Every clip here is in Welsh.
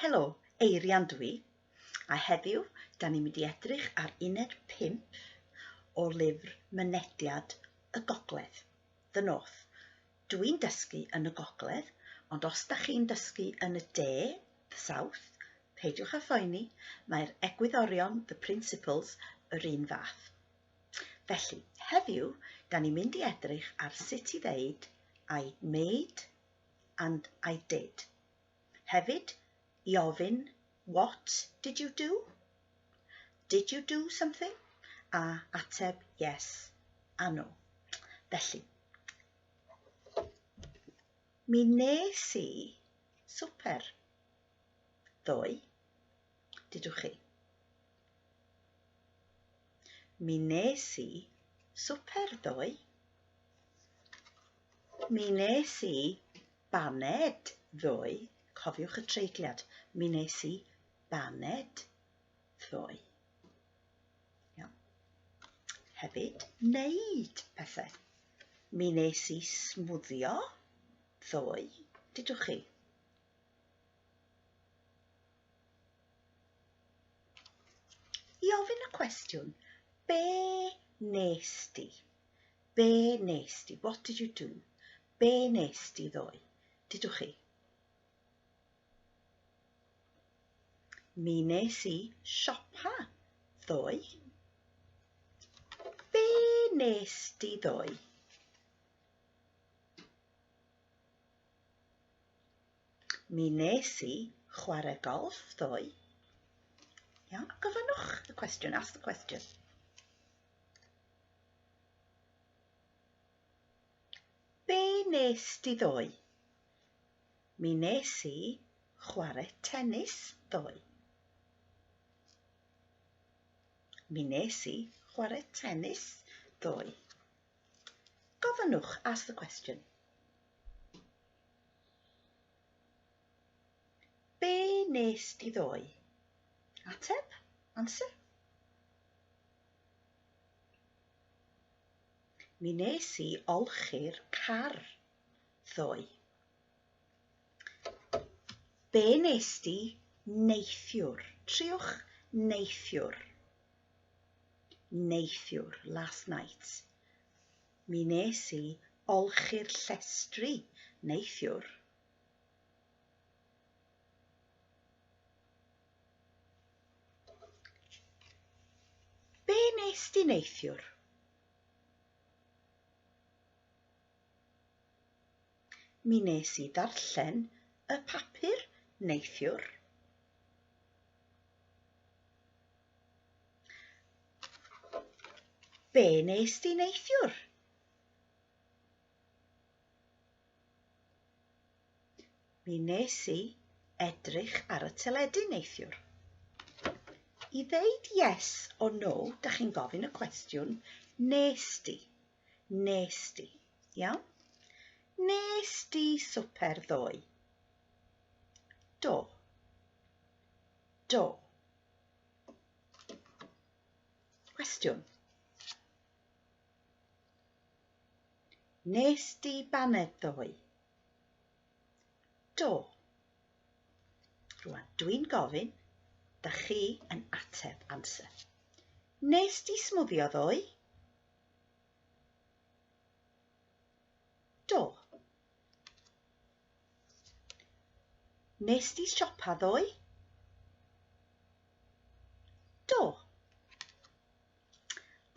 Helo, Eirian dwi, a heddiw da ni'n mynd i edrych ar uned 5 o lyfr Mynediad y Gogledd, The North. Dwi'n dysgu yn y Gogledd, ond os da chi'n dysgu yn y De, The South, peidiwch â phoeni, mae'r egwyddorion, the principles, yr un fath. Felly, heddiw, da ni'n mynd i edrych ar sut i ddeud I made and I did. Hefyd, i ofyn What did you do? Did you do something? A ateb Yes a No. Felly, mi nes i swper ddoe. Dydw chi. Mi nes i swper ddoe. Mi nes i baned ddoe. Cofiwch y treigliad. Mi nes i baned ddoe. Iawn. Hefyd, wneud pethau. Mi nes i smwddio ddoe. Dydwch chi. I ofyn y cwestiwn, be nes di? Be nes di? What did you do? Be nes di ddoe? Dydwch chi? Mi nes i siopa ddoe. Be nes di ddoe? Mi nes i chwarae golf ddoe. Iawn, gofynnwch y cwestiwn, ask the question. Be nes di ddoe? Mi nes i chwarae tennis ddoe. Mi nes i chwarae tennis ddoe. Gofynnwch, ask the question. Be nes di ddoe? Ateb, answer. Mi nes i olchi'r car ddoe. Be nes di neithiwr? Triwch neithiwr. Neithiwr, last night. Mi wnes i olchi'r llestri neithiwr. Be wnes di neithiwr? Mi nes i ddarllen y papur neithiwr. Be nes di neithiwr? Mi nes i edrych ar y teledu neithiwr. I ddeud yes or no, da chi'n gofyn y cwestiwn, nes di. Nes di. Iawn? Nes di swper ddoe. Do. Do. Cwestiwn. Nes di baned ddoe? Do. Rwan, dwi'n gofyn, da chi yn ateb amser. Nes di smwddio ddoe? Do. Nes di siopa ddoe? Do.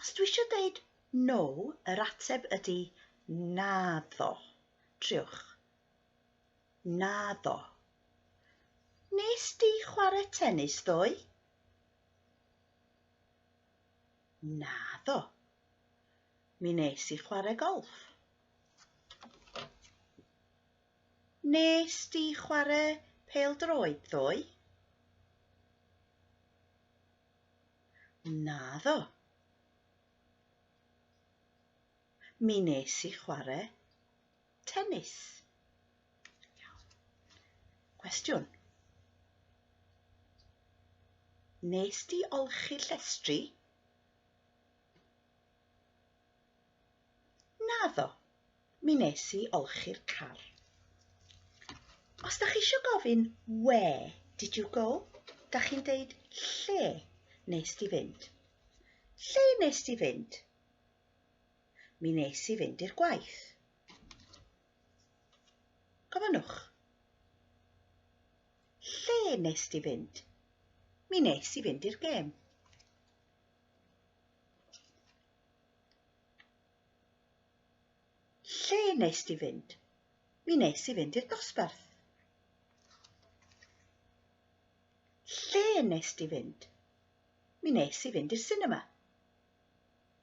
Os dwi eisiau dweud no, yr ateb ydy naddo. Triwch. Naddo. Nes di chwarae tennis ddoe? Naddo. Mi nes i chwarae golff. Nes di chwarae pêl-droed ddoe? Naddo. Mi nes i chwarae tennis. Cwestiwn. Nes di olchi llestri? Naddo, mi nes i olchi'r car. Os da chi eisiau gofyn where did you go, da chi'n deud lle nes di fynd. Lle nes di fynd? mi nes i fynd i'r gwaith. Gofynnwch. Lle nes di fynd? Mi nes i fynd i'r gêm. Lle nes di fynd? Mi nes i fynd i'r dosbarth. Lle nes di fynd? Mi nes i fynd i'r cinema.